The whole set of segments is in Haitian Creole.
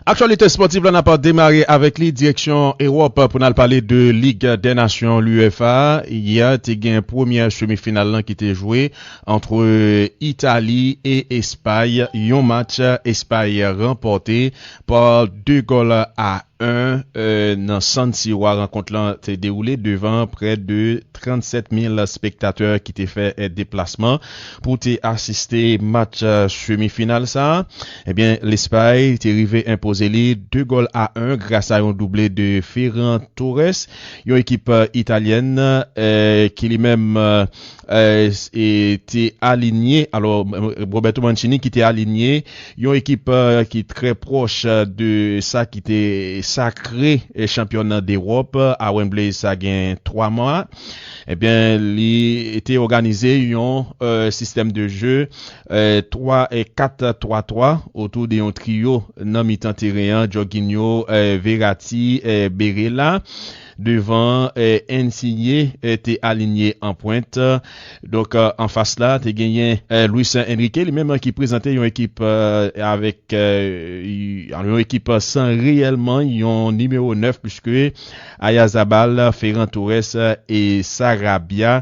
Aktyalite spòtiv la n ap demare avèk li direksyon Ewòp pou n al pale de lig dè nasyon UEFA. Yè te gen premyè semi final lan ki te jwe antre Itali e Espay yon match Espay ranpòte Par deux gols à un nan San Siro rankont lan te dewoule devan prè de 37 mil spektatè ki te fè deplasman pou te asiste match semi final sa. Ebyen Lespay te rive enpoze li 2 gòl a 1 gras a yon double de Ferran Torres yon ekip italyèn ki li menm te alinye, alò Roberto Mancini ki te alinye yon ekip ki trè pwòch de sa ki te sakre chanpyona dEròp a Wembley sa gen 3 mwa, ebyen li te òganize yon sistèm de je 3 4 3 3 otou de yon triyo nan mitan teren an, Jorginho, Verratti, Barella. Devan an, Insigne te alinye an pwent. Donk, an fas la, te genyen Luis Enrique, li menm ki prezante yon ekip avèk yon ekip san reyèlman yon nimewo 9, puiske Ayazabal, Ferran Torres e Sarabia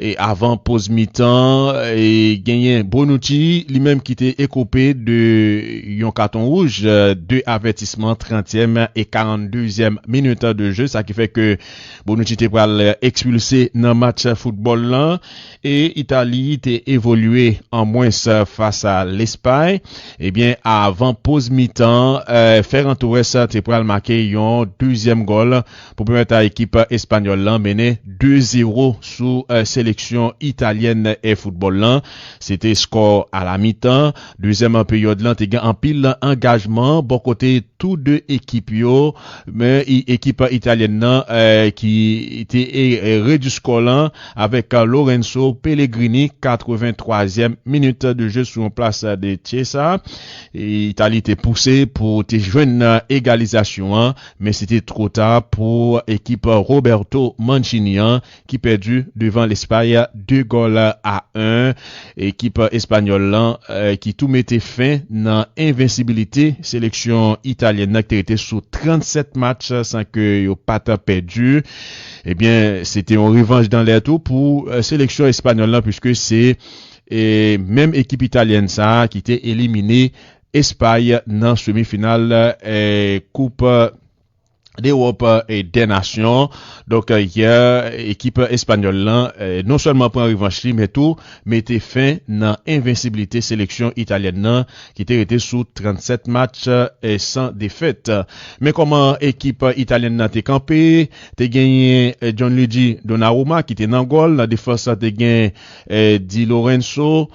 E avan poz mitan an, genyen Bonucci, li menm ki te ekope de yon katon wouj, 2 avètisman, trantyèm e karant dezyèm minit de je, sa ki fè ke Bonucci te pral ekspilse nan match foutbòl lan. E Itali te evolye an mwens fas a Lespay. Ebyen, avan poz mitan an, Ferran Torres te pral make yon dezyèm gòl pou pèmèt a ekip espanyòl lan mennen 2 zero sou seleksyon italyèn foutbòl lan. Se te skò alamitan. Dezyèm peryòd lan te gen anpil angajman bò kote tou 2 ekip yo, men ekip italyèn lan ki te redui skò lan avèk Lorenzo Pellegrini 83 zièm minit de je sou yon plas de Chiesa. Itali te pouse pou te jwenn egalizasyon an. Men se te two ta pou ekip Roberto Mancini an ki pèdi devan Lespay 2 gòl a 1. Ekip espanyòl lan ki tou mete fen nan envensibilite seleksyon italyèn nan ki te rete sou 37 match san ke yo pa t pèdi. Ebyen se te yon revanj dan lè tou pou seleksyon espanyòl lan puiske se menm ekip italyèn sa ki te elimine Espay nan semi final koup dEròp dè nasyon. Donk yè ekip espanyòl lan non sèlman pran revanch li men tou mete fen nan envensiblite seleksyon italyèn nan ki te rete sou 37 match san defèt. Men kòman ekip italyèn nan te kanpe, te genyen Gianluigi Donnarumma ki te nan gòl, nan defans lan te gen Di Lorenzo,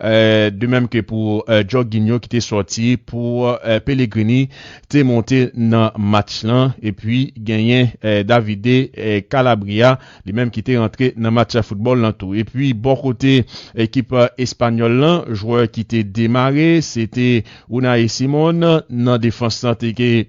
de menm ke pou Jorginho ki te sòti pou Pellegrini te monte nan match lan epi genyen Davide Calabria li menm ki te rantre nan match foutbòl lan tou. Epi bò kote ekip espanyòl lan jwè ki te demare se te Unai Simon, nan defans lan te gen.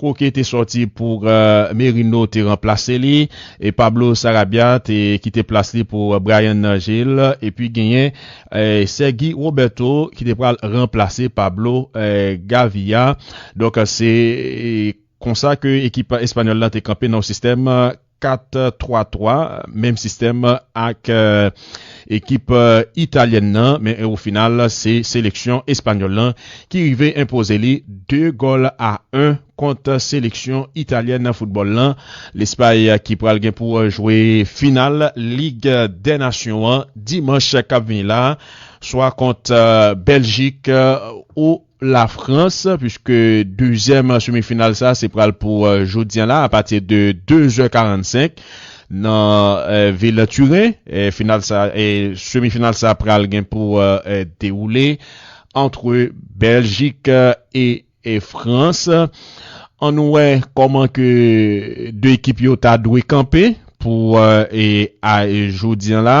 Koke te sòti pou Merino te ranplase li e Pablo Sarabia te kite plas li pou Bryan Gil epi genyen Sergi Roberto ki te pral ranplase Pablo Gavia. Donk se konsa ke ekip espanyòl la te kanpe nan yon sistèm 4, 3, 3, menm sistèm ak ekip italyèn nan, men o final se seleksyon espanyòl lan ki rive enpoze li 2 gòl a 1 kont seleksyon italyèn foutbòl lan Lespay ki pral gen pou jwe final Lig dè Nasyon an dimanch kap vini la swa kont Bèljik ou Lafrans, puiske dezyèm semi final sa se pral pou jodi an la apati de 2 zè 45 nan vil Turen, final sa semi final sa pral gen pou dewoule antre Bèljik e Frans an nou wè kòman ke 2 ekip yo ta dwe kanpe pou jodi an la.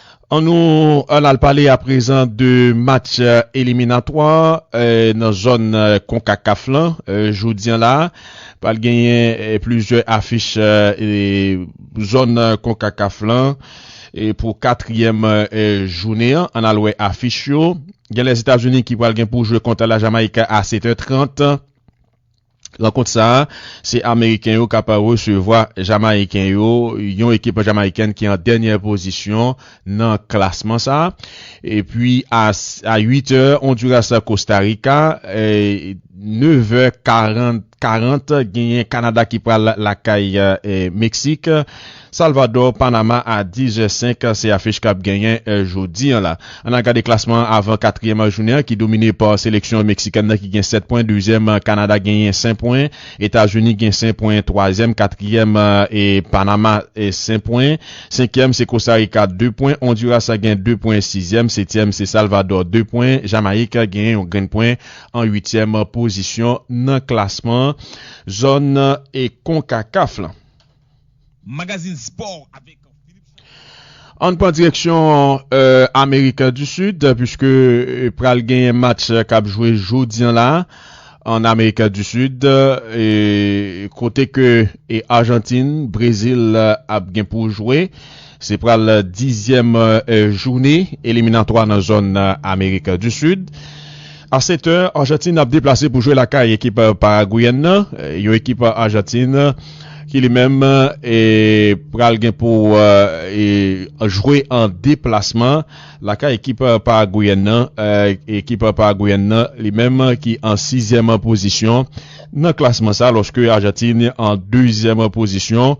An nou an al pale aprezan de match eliminatwa nan zòn konkakaf lan jodi an la pral genyen plizyè afich zòn konkakaf lan pou katriyèm jounen an an al wè afich yo gen lèzetazini ki pral gen pou jwe kont lajamayik a 7 è 30. Rankont sa a, se ameriken yo k ap resevwa jamayiken yo, yon ekip jamayikèn ki an dènyè pozisyon nan klasman sa a. Epi a 8 è, Onduras Kosta Rika, 9 è 40 genyen Kanada ki pral lakay Meksik. Salvador, Panama a 10 è 5, se afich k ap genyen jodi an la. Ann al gade klasman an avan katriyèm jounen an ki domine pa seleksyon meksikèn nan ki gen 7 pwen, dezyèm Kanada genyen 5 pwen, Etazini gen 5 pwen, twazyèm, katriyèm e Panama 5 pwen, senkyèm se Kostarika 2 pwen, Ondiras gen 2 pwen, sizyèm, setyèm se Salvador 2 pwen, Jamayik genyen yon grenn pwen an uityèm pozisyon nan klasman zòn Konkakaf lan. Magazine Sport avec Philippe Chapeau. Ann pran direksyon Amerik du Sud puiske pral genyen match kap jwe jodi an la an Amerik du Sud kote ke Argentine, Brazil ap gen pou jwe. Se pral dizyèm joune eliminatwa nan zòn Amerik di Sid. A setè, Ajantin ap deplase pou jwe lakay ekip Paragweyèn nan, yon ekip Ajantin ki li menm pral gen pou jwe an deplasman lakay ekip Paragweyèn nan. Ekip Paragweyèn nan li menm ki an sizyèm pozisyon nan klasman sa lòske Ajantin an dezyèm pozisyon.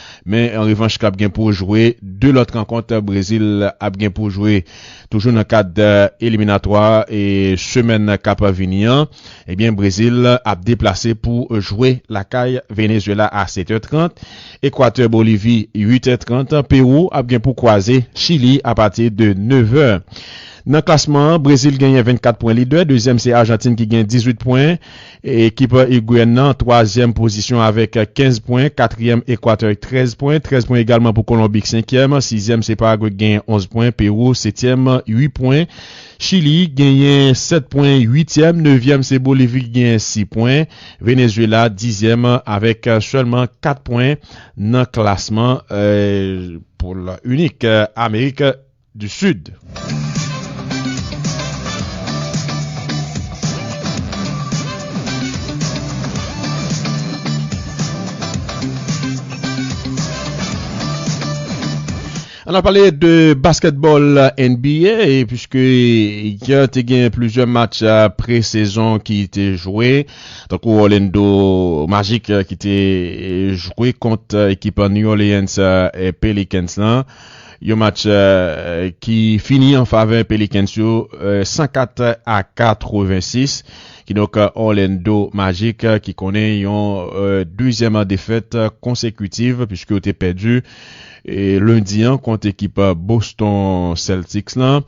Men an revanch l ap gen pou jwe 2 lòt rankont Brezil ap gen pou jwe toujou nan kad eliminatwa e semèn k ap vini an ebyen Brezil ap deplase pou jwe lakay Venezuela a 7 è 30, Ekwatè Bolivi 8 è 30, Pewou ap gen pou kwaze Chili apati de 9 è. Nan klasman an Brezil genyen 24 pwen lidè, dezyèm se Ajantin ki gen 18 pwen. Ekip Iguène nan twazyèm pozisyon avèk 15 pwen, katriyèm Ekwatè ak 13 pwen, 13 pwen egalman pou Kolonbi ki senkyèm, sizyèm se Paragwe ki genyen 11 pwen, Pewou setyèm 8 pwen, Chili genyen 7 pwen, uityèm, nevyèm se Bolivi ki genyen 6 pwen, Venezuela dizyèm avèk sèlman 4 pwen nan klasman poul inik Amerik du Sud. An n al pale de basketball NBA puiske hier te gen plizyè match pre-sezon ki te jwe. Tankou Orlando Magic ki te jwe kont ekip New Orleans Pelicans lan. Yon match ki fini an favè Pelicans yo 104 a 86. Kidonk Orlando Magic ki konnen yon dezyèm defèt konsekitiv puiske yo te pèdi lendi an kont ekip Boston Celtics lan.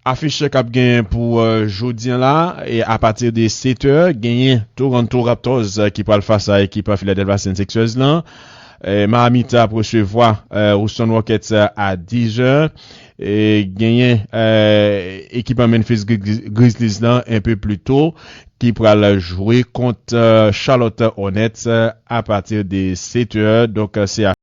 Afiche k ap genyen pou jodi an la a pati de 7 tè genyen Toronto Raptors ki pral fas a ekip Philadelphia 76ers lan, Miami t ap resevwa Houston Rockets a 10 zè, genyen ekip Memphis Grizzlies lan enpe pli to ki pral jwe kont Charlotte Hornets a pati de 7 tè donk se.